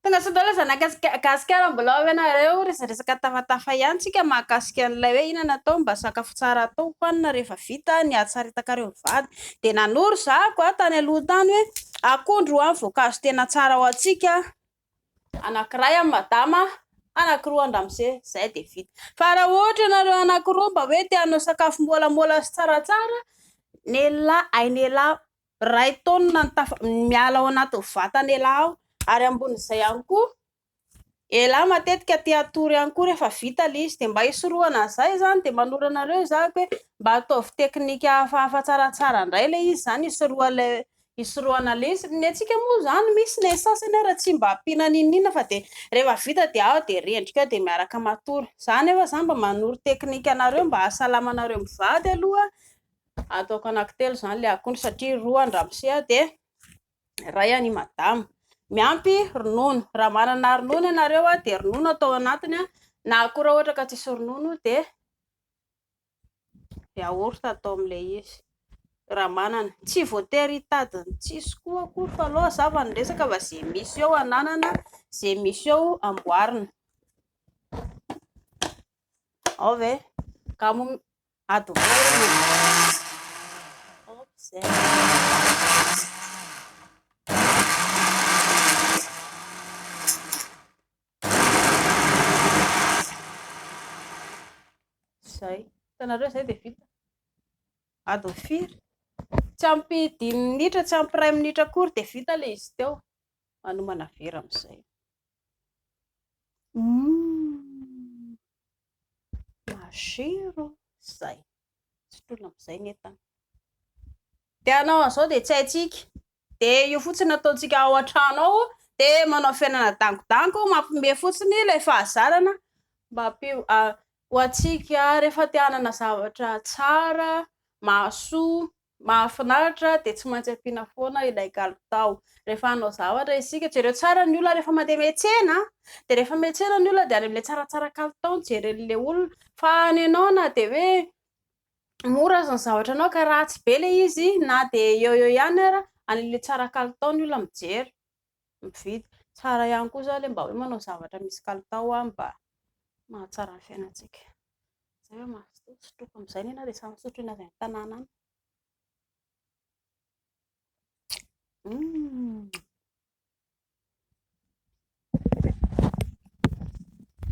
Tonga soa daholo zanaka Gasikara mbola ao ve nareo? Resadresaka tafatafa ihany tsika mahakasika an'ilay hoe inona no atao mba sakafo tsara atao hohanina rehefa vita ny hatsaritakareo mivady. Dia nanoro za ko tany aloha tany hoe akondro ho'a ny voankazo tena tsara ho antsika, anankiray an'i Madama, anankiroa an-dRamose, zay dia vita. Fa raha ohatra ianareo anankiroa mba hoe te hanao sakafo molamola sy tsaratsara, nelah, ain'elah Iray taonina ny tafa miala ao anatin'ny vatan' elah ao ary ambonin'izay ihany koa elah matetika te hatory ihany koa rehefa vita ilay izy dia mba hisorohana an'izay izany dia manoro anareo izaho aky hoe mba ataovy teknika hafahafa tsaratsara indray ilay izy izany hisoroha ilay hisorohana ilay izy, ny antsika moa izany misy ny sasany ary tsy mba ampiana n'inon'inona fa dia rehefa vita dia ao dia rendrika ao dia miaraka matory, izaho anefa izany mba manoro teknika anareo mba hahasalama anareo mivady aloha Ataoko anankitelo izany ilay akondro satria roa an-dramose dia iray an'i madama. Miampy ronono. Raha manana ronono ianareo dia ronono atao anatiny na koa raha ohatra ka tsisy ronono dia yaourt atao amin'ilay izy raha manana. Tsy voatery hitady ny tsisy koa akory fa aleo aza fa ny resaka fa izay misy eo ananana, izay misy eo amboarina. Ao ve? Ady Zay. Hitanareo zay dia vita. Ady ho firy? Tsy ampy dimy minitra, tsy ampy iray minitra akory dia vita ilay izy teo. Manomana vera amin'izay. Hmm. Masero zay. Sotroina amizay ny entana. De anao anzao de tsy haintsika. De io fotsiny ataontsika ao antrano ao de manao fiainana dangodango mampime fotsiny ilay fahazarana mba ampio ho antsika rehefa te hanana zavatra tsara, mahasoa, Mahafinaritra dia tsy maintsy ampiana foana ilay kalitao. Rehefa hanao zavatra isika, jereo tsara ny olona rehefa mandeha miantsena an! Dia rehefa miantsena ny olona dia any amin'ilay tsaratsara kalitao no jeren'ilay olona. Fa any ianao na dia hoe mora aza ny zavatrao ka ratsy be ilay izy na dia eo eo ihany ary any amin'ilay tsara kalitao ny olona mijery. mividy. Tsara ihany koa izany ilay mba hoe manao zavatra misy kalitao mba mahatsara ny fiainantsika. Izay no maha soa, sotroiko amin'izay anie na dia samy misotro eny avy any an-tanàna any. Hum.